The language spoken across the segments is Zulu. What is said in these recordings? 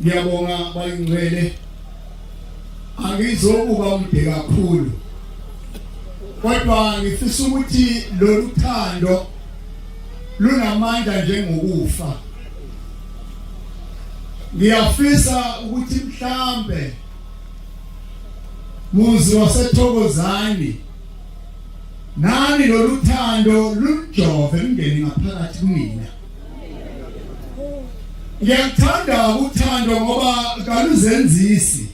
Ngiyabonga bayingcwele. Angizokuba mde kakhulu. Kodwa ngifisa ukuthi lolu thando lunamandla njengokufa. ngiyafisa ukuthi mhlambe muzi wasethokozani nani loluthando lunjove lungene ngaphakathi kumina ngiyakuthanda uthando ngoba kaluzenzisi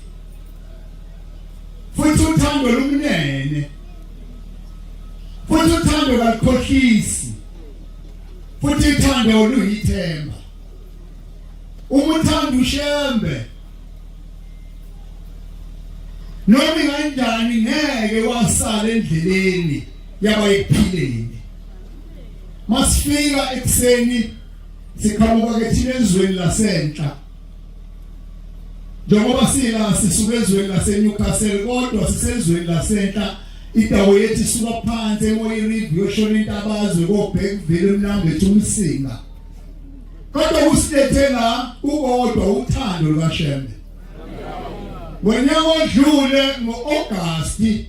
futhi uthando lumnene futhi uthando kalukhohlisi futhi ithando luyithemba uma uthanda ushembe noma kanjani ngeke wasala endleleni yabayiphileni masifika ekuseni siqhamuka ke thina ezweni lasenhla Njengoba sila sisuka ezweni laseNewcastle kodwa sisezweni lasenhla indawo yethu isuka phansi emoyirivi yoshona intabazwe kobheka uvele emlambo ethu umsinga kodwa kusilethe la ukodwa uthando lukashembe ngonyaka odlule ngo-agasti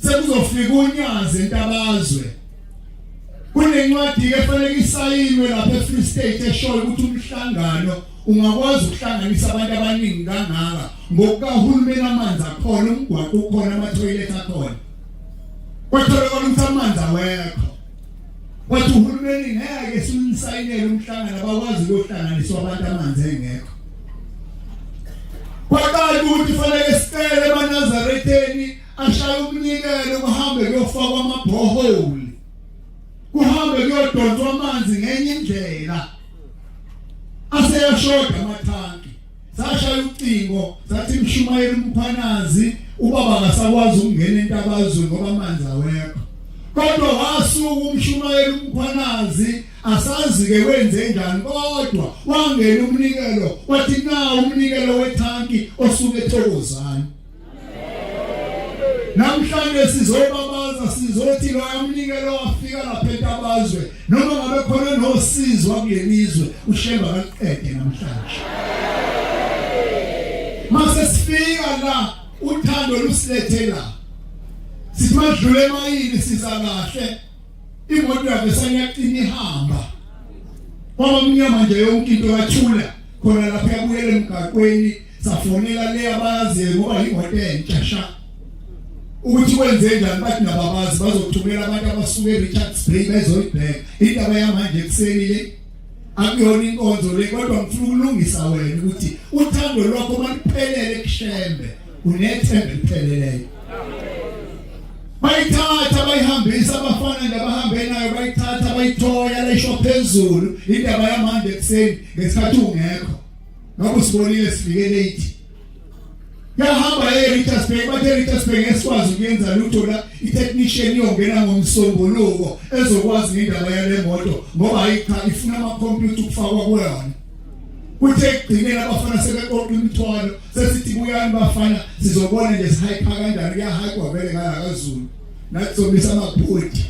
sekuzofika unyazi entabazwe kunencwadi efanele isayinwe lapha eFree State eshoyo ukuthi umhlangano ungakwazi ukuhlanganisa abantu abaningi kangaka ngokukahulumeni amanzi akhona umgwaqo ukhona amathoyilethi akhona kwatholakala ukuthi amanzi awekho wathi uhulumeni ngeke simsayinele umhlangano abakwazi ukuhlanganiswa abantu amanzi engekho kwaqala ukuthi fanele sicele emanazaretheni ashaye umnikelo kuhambe kuyofakwa amabhoholi kuhambe kuyodonswa amanzi ngenye indlela aseyashoda amathanki sashaya ucingo sathi mshumayeli umphanazi ubaba akasakwazi ukungena entabazwe ngoba amanzi awekho kodwa wasuka umshumayeli umphanazi asazi ke wenze njani kodwa wangena umnikelo wathi na umnikelo wethanki osuke ethokozana namhlanje sizobabaza sizothi loyamnikelo wafika lapha entabazwe noma ngabe khona nosizwa kulelizwe ushemba kaqede namhlanje mase sifika la uthando lusilethe la simadlule emayini siza kahle imoto yakhe sanyaqini ihamba kwaba mnyama nje yonke into yathula khona lapha yabuyela emgaqweni safonela le abayaziyo ngoba yimoto entsha sha ukuthi kwenze njani bathi nababazi bazothumela abantu abasuke eRichards Bay bezoyibheka indaba yamanje ekuseni le akuyona inkonzo le kodwa ngifuna ukulungisa wena ukuthi uthando lwakho maliphelele kushembe unethemba elipheleleyo bayithatha bayihambisa abafana nabahambe nayo bayithatha bayithoya lesho phezulu indaba yamanje ekuseni ngesikhathi ungekho Ngakho sibonile sifike late. Yahamba eRichards Bay, bathe eRichards Bay ngesikwazi ukuyenza lutho la i-technician iyongena ngomsombuluko ezokwazi ngendaba yale moto ngoba hayi cha ifuna ama-computer ukufakwa kuyona. Kuthe ekugcineni abafana sebeqoqa imithwalo sesithi buyani bafana sizobona nje sihayipha kanjani kuyahayikwa vele ngala kaZulu. Nathi sobisa amaphodi.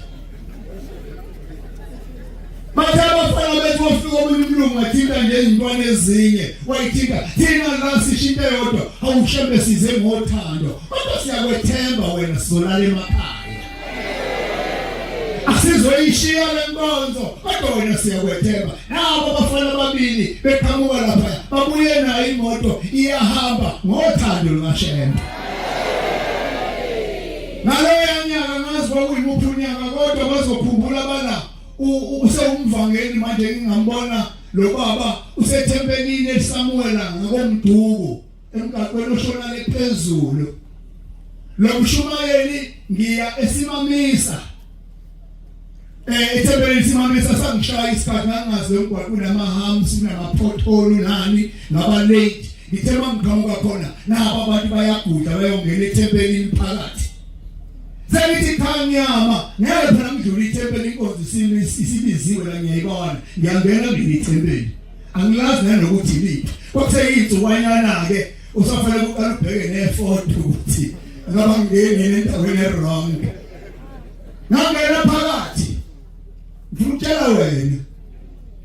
Bathe abafana bethu wafika omunye umlungu wathinta ngezintwana ezinye wayithinta thina la sishinto yodwa awushembe size ngothando kodwa siyakwethemba wena sizolala emakhaya asizoyishiya le nkonzo kodwa wena siyakwethemba nabo abafana ababili beqhamuka lapha babuye nayo imoto iyahamba ngothando lukashembe Ngaloya nyaka ngazi kwakuyimuphi unyaka kodwa bazokhumbula bala usewumvangeli manje ngingambona lo baba usethempelini elisamuwela ngakomduku emgaqweni oshona lephezulu lo mshumayeli ngiya esimamisa Eh ithempeli simamisa sangishaya isikhathi ngangazi lomgwaqo unamahams unamapothole nani ngaba late ngithe mangiqhamuka khona nabo abantu bayaguda bayongena ethempelini phakathi sengithi cha ngiyama ngeke phela ngidlule ithempeli inkonzo isibiziwe la ngiyayibona ngiyangena ngene ithempeli angilazi nanokuthi liphi kwakuseyinsukwanyana ke usafanele uqale ubheke nefoto ukuthi ngaba ngingene endaweni e-wrong ngangena phakathi ngitshela wena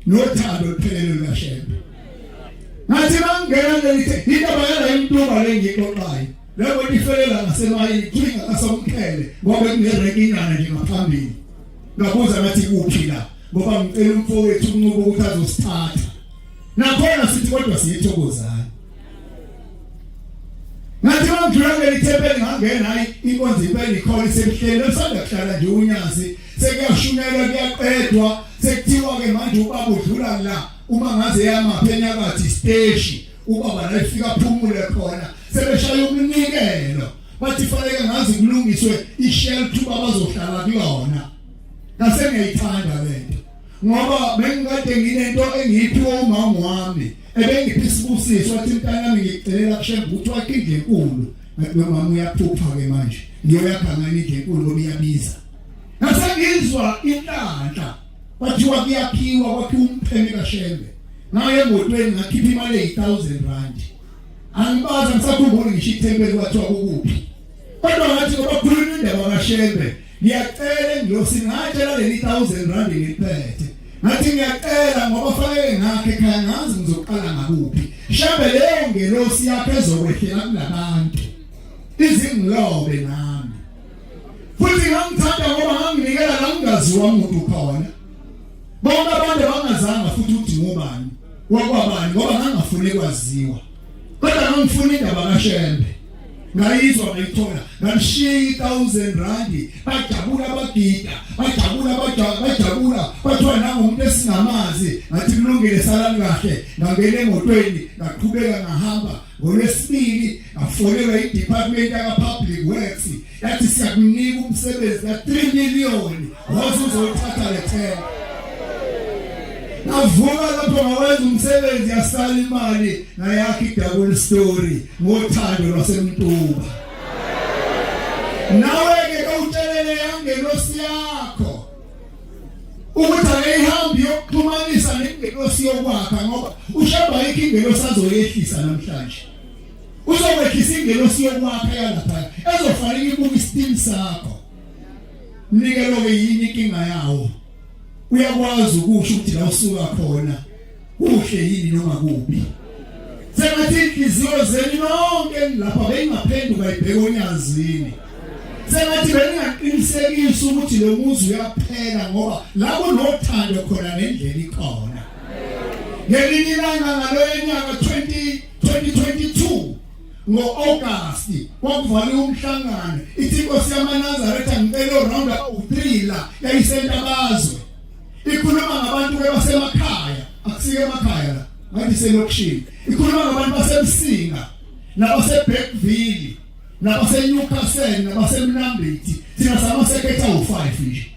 nothando luphelele lashembe ngathi mangena ngelithi indaba yala intuba lengixoxayo loko ifelela ngasemayini kuthiwa ngasomkhele ngoba kunerekinyana nje ngaphambili ngabuza ngathi kuphi la ngoba ngicela umfowethu unqubo ukuthi azosithatha nakhona sithi kodwa siyithokozana ngathi mangidlula kuleli thempeli ngangena hayi inkonzo impela ikhona isemhleni esanda kuhlala nje unyazi sekuyashunyelwa kuyaqedwa sekuthiwa ke manje ubaba udlula la uma ngaze yamaphenya kathi steshi ubaba la ifika phumule khona sebeshaya umnikelo bathi fanele ngazi kulungiswe ishelf uba bazohlala kuyona ngase ngiyayithanda lento ngoba bengikade nginento engiyiphiwa umama wami ebengipha isibusiso wathi mntanami ngikucelela kushembe ukuthi wakhe indlu enkulu ngathi nomama uyaphupha-ke manje ngiyoyakha ngani indlu enkulu ngoba iyabiza nasengizwa inhlanhla kwathiwa kuyaphiwa kwakhiwa umpheme kashembe ngaye emotweni ngakhipha imali eyi-thousand rand angibazi angisakhumbuli ngisho ithempeli kwathiwa kukuphi kodwa ngathi ngoba khuluma indaba kashembe ngiyacela ngiyosingatshe laleli thousand rand ngiphethe ngathi ngiyacela ngoba fanele ngakhe ekhaya ngazi ngizoqala ngakuphi shabe leyo ngelosi yakhe ezokwehlela kulabantu izingilobe nami futhi ngangithanda ngoba nganginikela la ngingaziwa muntu khona bonke abantu abangazanga futhi uthi ngubani wakwabani ngoba ngangafuni kwaziwa kodwa ngangifuna indaba kaShembe ngayizwa ngayithola ngamshiya i1000 rand bajabula abagida bajabula bajabula bathiwa nangumuntu esingamazi ngathi kulungile salani kahle ngangena emotweni ngaqhubeka ngahamba ngolwesibili ngafonelwa i-department yaka-public works Yathi siyakunika umsebenzi ka 3 million wathi uzothatha le themba. Navuka lapho ngawenza umsebenzi yasala imali nayakhe idabule story ngothando lwasemntuba. Nawe ke kawutshelele yangelosi yakho ukuthi akeyihambi yokuxhumanisa nengelosi yokwakha ngoba ushaba yikho ingelosi azoyehlisa namhlanje. uzokwehlisa ingelosi yokwakha yalaphaya ezofanele ibuke isitini sakho mnike loke yini inkinga yawo uyakwazi ukusho ukuthi la usuka khona kuhle yini noma kubi sengathi inhliziyo zenu nonke lapha beyingaphenduka ibheke onyazini sengathi bengaqinisekisa ukuthi lo muzi uyaphela ngoba lapho nothando khona nendlela ikhona ngelinye ilanga ngaloyo nyaka 20 2022 ngo-August kwakuvalwe umhlangano ithi inkosi yamaNazaretha ngicela round u-3 la yayisentabazwe ikhuluma ngabantu basemakhaya akusike emakhaya la ngathi selokishini ikhuluma ngabantu basemsinga nabaseBeckville nabaseNewcastle nabaseMnambithi thina samasekhetha u5 nje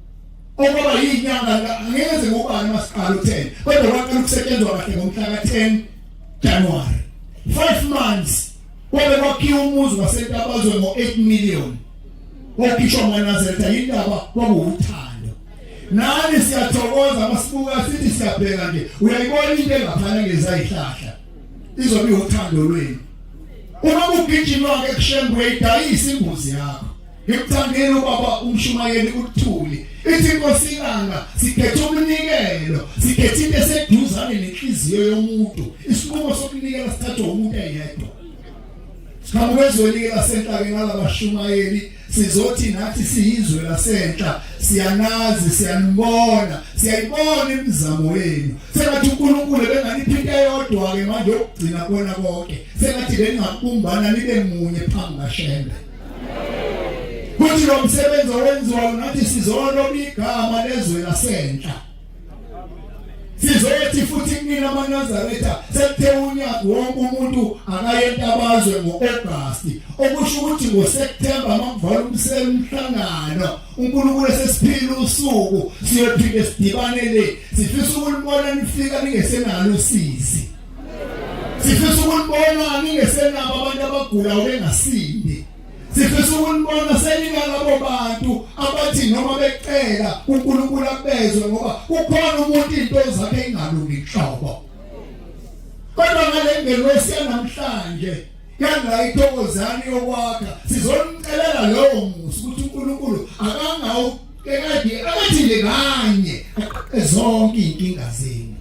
okwaba yinyanga ngeke ngize ngubani masiqala u10 kodwa kwaqala ukusetshenzwa kahle ngomhla ka10 January 5 months kwabe kwakhiwa umuzi wasentabazwe ngo8 million wakhishwa manazetha indaba kwakuwuthando nani siyathokoza masibuka sithi siyabheka nje uyayibona into engaphana ngezayihlahla izobe uthando lwenu uma kugijinwa ke kushembwe idayisa imbuzi yakho Ngimthandile ubaba umshumayeli uthuli. Ithi inkosi ilanga sikhethe umnikelo, sikhethe into eseduzane nenhliziyo yomuntu. Isinqumo sokunikela sithathwa umuntu eyedwa. Sikhambezweni lasenhlakeni ngalabashumayeli sizothi nathi siyizwe lasenhla siyanazi siyanibona siyayibona imizamo yenu sengathi uNkulunkulu benganiphi into eyodwa ke manje yokugcina kona konke sengathi bengakubumbana nibe munye phambi kaShembe Futhi lo msebenzi owenziwayo nathi sizolona igama lezwe lasenhla. Sizothi futhi kunina amaNazaretha sekuthe unyaka wonke umuntu akaye entabazwe ngo-August okusho ukuthi ngoSeptember makuvala umsele umhlangano uNkulunkulu esesiphila usuku siyophinde sidibane le sifisa ukulibona nifika ningesenalo usizi sifisa ukunibona ningesenabo abantu abagula obengasindi sifisa ukunibona seningalabo bantu abathi noma becela uNkulunkulu akubezwe ngoba kukhona umuntu into zakhe ingalungi nhlobo kodwa ngale ngelosi yanamhlanje yanga ithokozani yokwakha sizomcelela lowo musa ukuthi uNkulunkulu akangawuqala Kekade abathinde kanye aqoqe zonke inkinga zenu.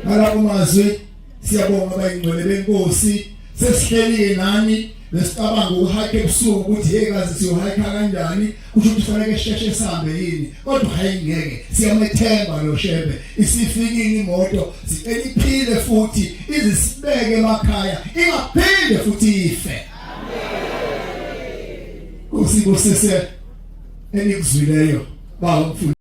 Ngalabo mazwi siyabonga abayingcwele benkosi sesihlelike nani nesicabanga ukuhayikha ebusuku ukuthi hey kazi siyohayikha kanjani kusho ukuthi fanele sheshe sihambe yini kodwa hayi ngeke siyamethemba lo shebe isifikile imoto sicela iphile futhi izisibeke emakhaya ingaphinde futhi ife amen kusibusise enikuzwileyo bawumfundisi